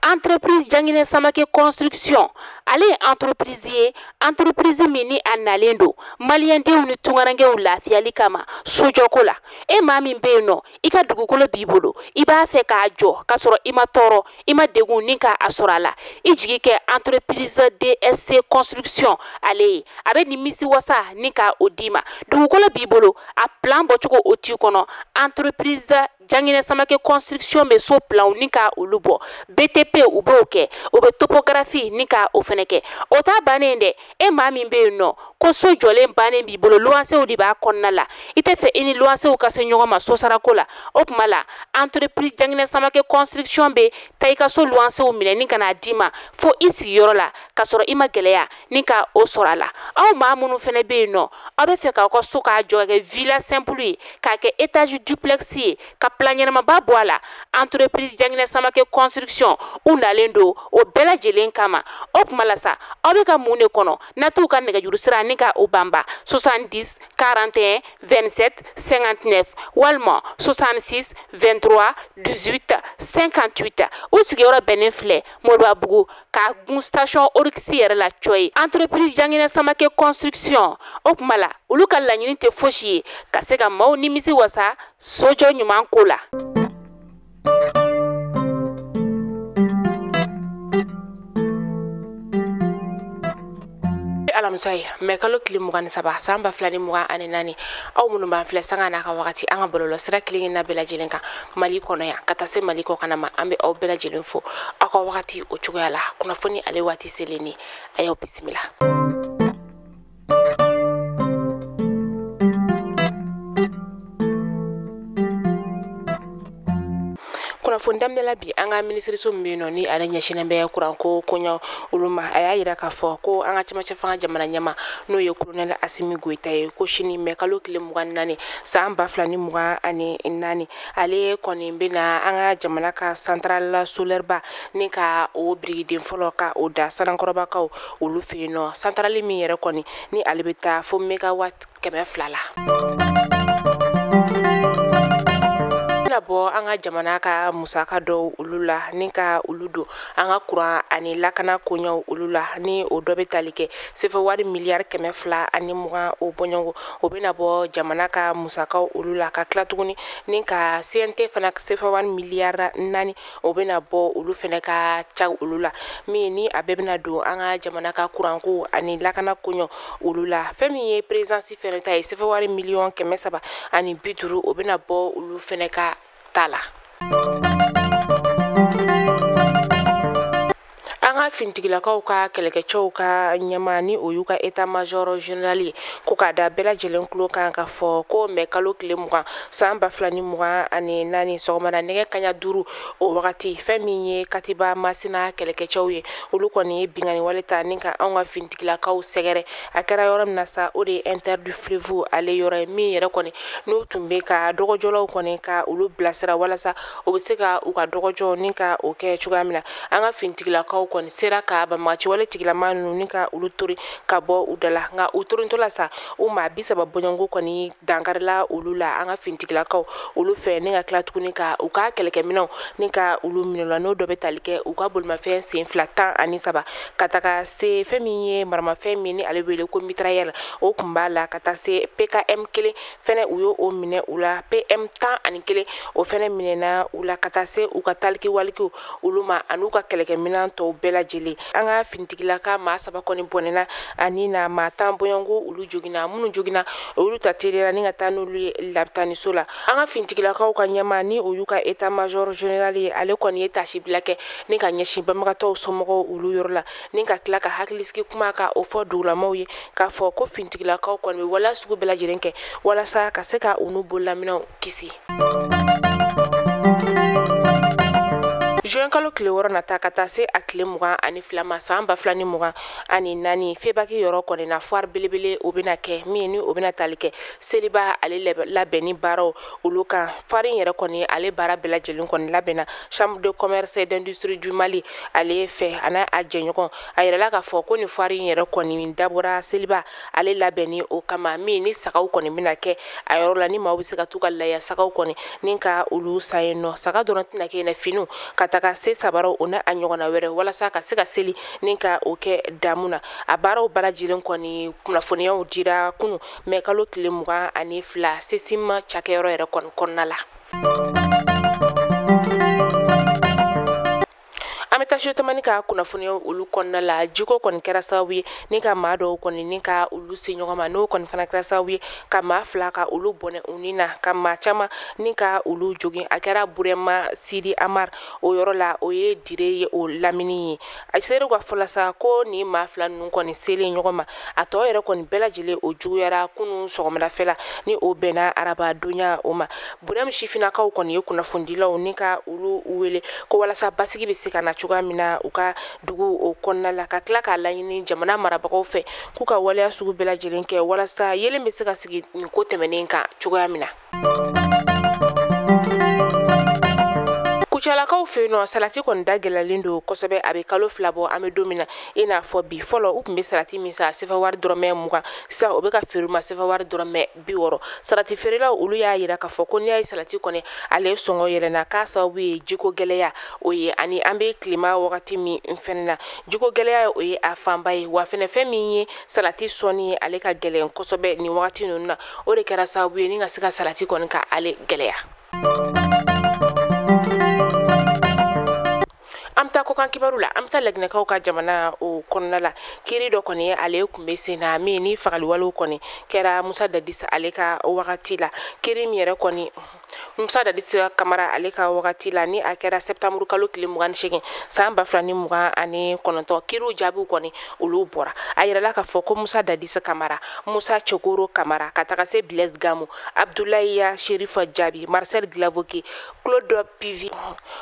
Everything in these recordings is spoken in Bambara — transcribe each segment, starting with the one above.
entreprise janginɛ samake construction ale ye entreprise ye entreprise min ni a nalen don maliyɛndenw ni tungarankew lafiyali kama sojɔko la e maa min bɛ yen nɔ i ka dugukolo b'i bolo i b'a fɛ k'a jɔ k'a sɔrɔ i ma tɔɔrɔ i ma degun ni ka a sɔrɔ a la i jigi kɛ entreprise dsc construction ale ye a bɛ nimisi wasa ni ka o d'i ma dugukolo b'i bolo a plan bɔcogo o t'i kɔnɔ entreprise Janginɛ Samake construction bɛ so planw ni ka olu bɔ. BTP u b'o kɛ. U bɛ topographie ni ka o fɛnɛ kɛ. O t'a bannen ye dɛ, e maa min bɛ yen nɔ ko so jɔlen bannen b'i bolo luwansew de b'a kɔnɔna la, i tɛ fɛ i ni luwansew ka se ɲɔgɔn ma sosarako la, o tuma la entreprise Janginɛ Samake construction bɛ taa i ka so luwansew minɛ ni ka n'a d'i ma fo i sigiyɔrɔ la, ka sɔrɔ i ma gɛlɛya. ni ka o sɔrɔ a la aw maa minnu fɛnɛ bɛ yen nɔ aw bɛ fɛ k'aw ka so k'a jɔ k'a kɛ villa simple ye k'a kɛ étage duplex ye ka plan ɲɛnamaba bɔ a la entreprise janginɛ samake construction u nalen don o bɛɛ lajɛlen kama o tuma la sa aw bɛ ka mun de kɔnɔ n'a t'u ka nɛgɛjuru sira ni ka o banba 70 41 27 59 walima 66 23 18 58 u sigiyɔrɔ bɛnnen filɛ moribabugu ka gun station oryx yɛrɛ la cɔyi entreprise janginɛ samake construction o tuma la olu ka laɲini tɛ fosi ye ka se ka maw nimisi wasa sojɔ ɲuman ko la alamisa ye mɛ kalo tile mugan ni saba san ba fila ni mugan ani naani aw minnu b'an filɛ sanga n'a ka wagati an ka bɔlɔlɔ sira kelenna bɛɛ lajɛlen kan mali kɔnɔ yan ka taa se mali kɔkanna ma an bɛ aw bɛɛ lajɛlen fo aw ka wagati o cogoya la kunnafoni ale waati selen ni a y'aw bisimila kunnafoni daminɛla bi an ka minisiriso min bɛ yen nɔ ni ale ɲɛsinnen bɛ kuranko koɲɛ olu ma a y'a yira k'a fɔ ko an ka cɛmancɛ fanga jamana ɲɛmaa n'o ye kolonɛli asimi goyita ye ko sini mɛ kalo tile mugan ni naani san ba fila ni mugan ani naani ale kɔni bɛna an ka jamana ka santarali solɛriba ni ka o birigiden fɔlɔ ka o da sanankɔrɔbakaw olu fɛ yen nɔ santarali min yɛrɛ kɔni ni ale bɛ taa fo megawati kɛmɛ fila la bɛna bɔ an ka jamana ka musaka dɔw olu la ni ka olu don an ka kuran ani lakana koɲɛw olu la ni o dɔ bɛ tali kɛ sefa wari miliyari kɛmɛ fila ani mugan o bɔɲɔgɔn o bɛna bɔ jamana ka musakaw olu la ka tila tuguni ni ka cnt fana sefa wari miliyari naani o bɛna bɔ olu fana ka ca olu la min ni a bɛɛ bɛna don an ka jamana ka kuranko ani lakana koɲɛw olu la fɛn min ye perezansi fana ta ye sefewari miliyɔn kɛmɛ saba ani bi duuru o bɛna bɔ olu fana ka ta la an ka finitigilakaw ka kɛlɛkɛcɛw ka ɲɛmaa ni o y'u ka état major général ye ko k'a da bɛɛ lajɛlen tulo kan k'a fɔ ko mɛ kalo tile mugan san ba fila ni mugan ani naani sɔgɔmada nɛgɛ kaɲa duuru o wagati fɛn min ye katiba masina kɛlɛkɛcɛw ye olu kɔni ye binkanni wale ta ni ka anw ka finitigilakaw sɛgɛrɛ a kɛra yɔrɔ min na sa o de ye inter du fleuve ale yɔrɔ ye min yɛrɛ kɔni n'u tun bɛ ka dɔgɔjɔlaw kɔni ka olu bilasira walasa u bɛ se ka u ka dɔgɔjɔ ni ka o kɛ cogoya min na an ka finitigilakaw kɔni sera ka banbaganci wale tigilama ninnu ni ka olu tori ka bɔ u da la nka u torintɔ la sa u maa bi saba bɔɲɔgɔnko kɔni dankarila olu la an ka finitigilakaw olu fɛ ni ka tila tuguni ka u ka kɛlɛkɛminɛnw ni ka olu minɛ u la n'o dɔ bɛ tali kɛ u ka bolimafɛn sen fila tan ani saba ka taga se fɛn min ye maramafɛn min ni ale wele ko mitrayɛl o tun b'a la ka taa se pkm kelen fɛnɛ u y'o minɛ u la pm tan ani kelen o fɛnɛ minɛna u la ka taa se u ka taliki walikiw olu ma an'u ka kɛlɛkɛminɛn tɔw bɛɛ lajɛlen an ka finitigilaka maa saba kɔni bɔnɛna a ni na maa tan bɔɲɔgɔnko olu joginna minnu joginna olu ta teliyara ni ka taa n'olu ye labitaniso la an ka finitigilakaw ka ɲɛmaa ni o y'u ka état major général ye ale kɔni ye tasibila kɛ ni ka ɲɛsin banbagatɔw somɔgɔw olu yɔrɔ la ni ka tila ka hakilisigi kuma ka o fɔ dugulamaw ye k'a fɔ ko finitigilakaw kɔni bɛ waleya sugu bɛɛ lajɛlen kɛ walasa ka se ka u n'u bololaminɛnw kisi zuwɛn kalo tile wɔɔrɔ nata ka taa se a tile mugan ani fila ma san ba fila ni mugan ani naani febaki yɔrɔ kɔni na foire belebele o bena kɛ min ni o bena tali kɛ seliba ale labɛnni baaraw olu kan foire in yɛrɛ kɔni ale baara bɛɛ lajɛlen kɔni labɛnna chambre de commerce et d'industrie du mali ale fɛ ani a jɛɲɔgɔn a yirala k'a fɔ ko nin foire in yɛrɛ kɔni dabɔra seliba ale labɛnni o kama min ni sagaw kɔni bɛna kɛ a yɔrɔ la ni maaw bɛ se ka t'u ka laya sagaw kɔni ni ka olu san yen nɔ saga dɔrɔn tɛna kɛ yen finiw ka taga se sabaraw o n'a ɲɔgɔnna wɛrɛ walasa ka se ka seli ni ka o kɛ damu na a baaraw bɛɛ lajɛlen kɔni kunnafoniyaw dira kunu mɛ kalo tile mugan ani fila sesima cakɛyɔrɔ yɛrɛ kɔni kɔnɔna la an bɛ taa studio tamani ka kunnafoniya olu kɔnɔna la jiko kɔni kɛra sababu ye ni ka maa dɔw kɔni ni ka olu se ɲɔgɔn ma n'o kɔni fana kɛra sababu ye ka maa fila ka olu bɔnɛ u ni na ka maa caman ni ka olu jogin a kɛra burɛma sidi amar o yɔrɔ la o ye dire ye o lamini ye a seerew ka fɔ la sa ko nin maa fila ninnu kɔni selen ɲɔgɔn ma a tɔ yɛrɛ kɔni bɛɛ lajɛlen o juguyara kunu sɔgɔmadafɛla ni o bɛnna araba donya o ma burɛm sifinakaw kɔni ye kunnafonidilaw ni ka olu wele ko walasa basigi bɛ se ka na cogoya min na u ka dugu o kɔnɔna la ka tila k'a laɲini jamana marabagaw fɛ k'u ka waleya sugu bɛɛ lajɛlen kɛ walasa yeelen bɛ se ka sigi nin ko tɛmɛnen kan cogoya min na kucalakaw fɛ yen nɔ salati kɔni da gɛlɛlen don kosɛbɛ a bɛ kalo fila bɔ an bɛ don min na i n'a fɔ bi fɔlɔ u tun bɛ salati min san sefa wari dɔrɔmɛ mugan sisan o bɛ ka feere ma sefa wari dɔrɔmɛ bi wɔɔrɔ salati feerelaw olu y'a yira k'a fɔ ko n'i y'a ye salati kɔni ale sɔngɔ yɛlɛnna k'a sababu ye jiko gɛlɛya o ye ani an bɛ tilema wagati min fɛnɛ na jiko gɛlɛya o ye a fanba ye wa fɛnɛ fɛn min ye salati sɔnni ye ale ka gɛlɛn kosɛbɛ nin wagati ninnu na o de kɛra sababu ye ni ka se ka salati kɔni ka ale gɛlɛya an bɛ taa kokan kibaru la an bɛ taa laginɛkaw ka jamana o kɔnɔna la kiri dɔ kɔni ye ale tun bɛ sen na min ni fagaliwalew kɔni kɛra musa dadis ale ka wagati la kiri min yɛrɛ kɔni musa dadis kamara ale ka wagati la ni a kɛra septembre kalo tile mugan ni segin san ba fila ni mugan ani kɔnɔntɔn kiriw jaabiw kɔni olu bɔra a yirala k'a fɔ ko musa dadis kamara musa cokoro kamara ka taga se blaise gamu abdulayi sherif jabi marcel guilavogui claude pivi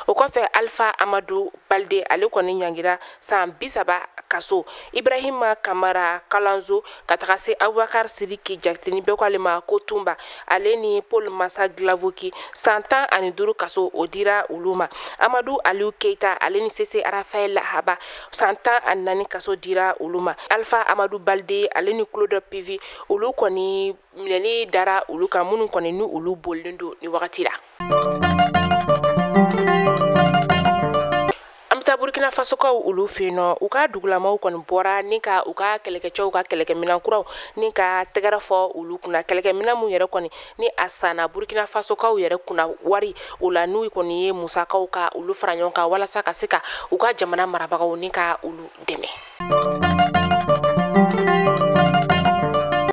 o kɔfɛ alpha amadu balde ale kɔni ɲangira san bi saba kaso ibrahima kamara kalanzo ka taga se abubakar sidiki jakite ni bɛɛ ko ale ma ko tunba ale ni paul mansa guilavogui san tan ani duru kaso o dira olu ma amadu aliu keita ale ni sese rafael haba san tan ani naani kaso dira olu ma alfa amadu balde ale ni claude pivi olu kɔni minɛni dara olu kan minnu kɔni ni olu bolilen don ni wagati la burkina fasokaw olu fɛ yen nɔ u ka dugulamaw kɔni bɔra ni ka u ka kɛlɛkɛcɛw ka kɛlɛkɛminɛn kuraw ni ka tɛgɛrɛ fɔ olu kunna kɛlɛkɛminɛn minnu yɛrɛ kɔni ni a sanna burkina fasokaw yɛrɛ kunna wari o la n'u kɔni ye musakaw ka olu fara ɲɔgɔn kan walasa ka se ka u ka jamana marabagaw ni ka olu dɛmɛ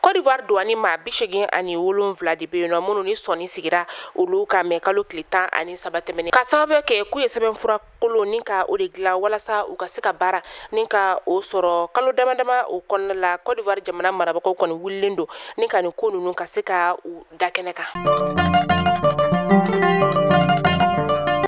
Kɔdiwari duwani maa bi segin ani wolonwula de bɛ yen nɔ minnu ni sɔɔni sigira olu kan mɛ kalo tile tan ani saba tɛmɛnen ka sababu kɛ k'u ye sɛbɛnfura kolon ni ka o de dilan walasa u ka se ka baara ni ka o sɔrɔ kalo dama dama o kɔnɔna la kɔdiwari jamana marabagaw kɔni wulilen don ni ka nin ko ninnu ka se ka da kɛnɛ kan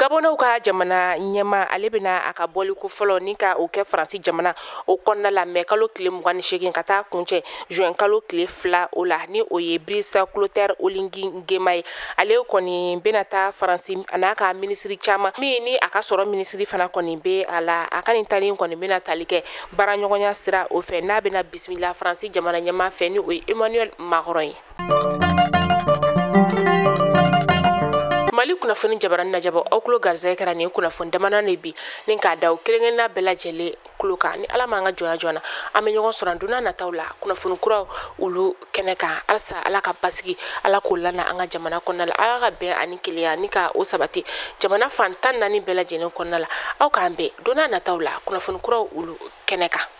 gabɔnnaw ka jamana ɲɛma ale bɛna a ka bɔliko fɔlɔ ni ka o kɛ faransi jamana o kɔnɔna la mɛ kalo tile mugan ni seegin ka taa kuncɛ juin kalo tile fila o la ni o ye brice clotaire oligui nguema ye ale kɔni bɛna taa faransi an'a ka minisiri caman min ni a ka sɔrɔ minisiri fana kɔni bɛ a la a ka nin tali kɔni bɛna tali kɛ baaraɲɔgɔnya sira o fɛ n'a bɛna bisimila faransi jamana ɲɛma fɛ ni o ye emmanuel macron ye mali kunnafoni jabaranin lajɛbaw aw kulo garisɛgɛ kɛra nin kunnafoni damanan de bi ni k'a da aw kelenkelenna bɛɛ lajɛlen kulo kan ni ala m'an ka jɔnya jɔn na an bɛ ɲɔgɔn sɔrɔ donna nataw la kunnafoni kuraw olu kɛnɛ kan halisa ala ka basigi ala k'o lana an ka jamana kɔnɔna la ala ka bɛn ani kelenya ni ka o sabati jamana fan tan naani bɛɛ lajɛlen kɔnɔna la aw k'an bɛn donna nataw la kunnafoni kuraw olu kɛnɛ kan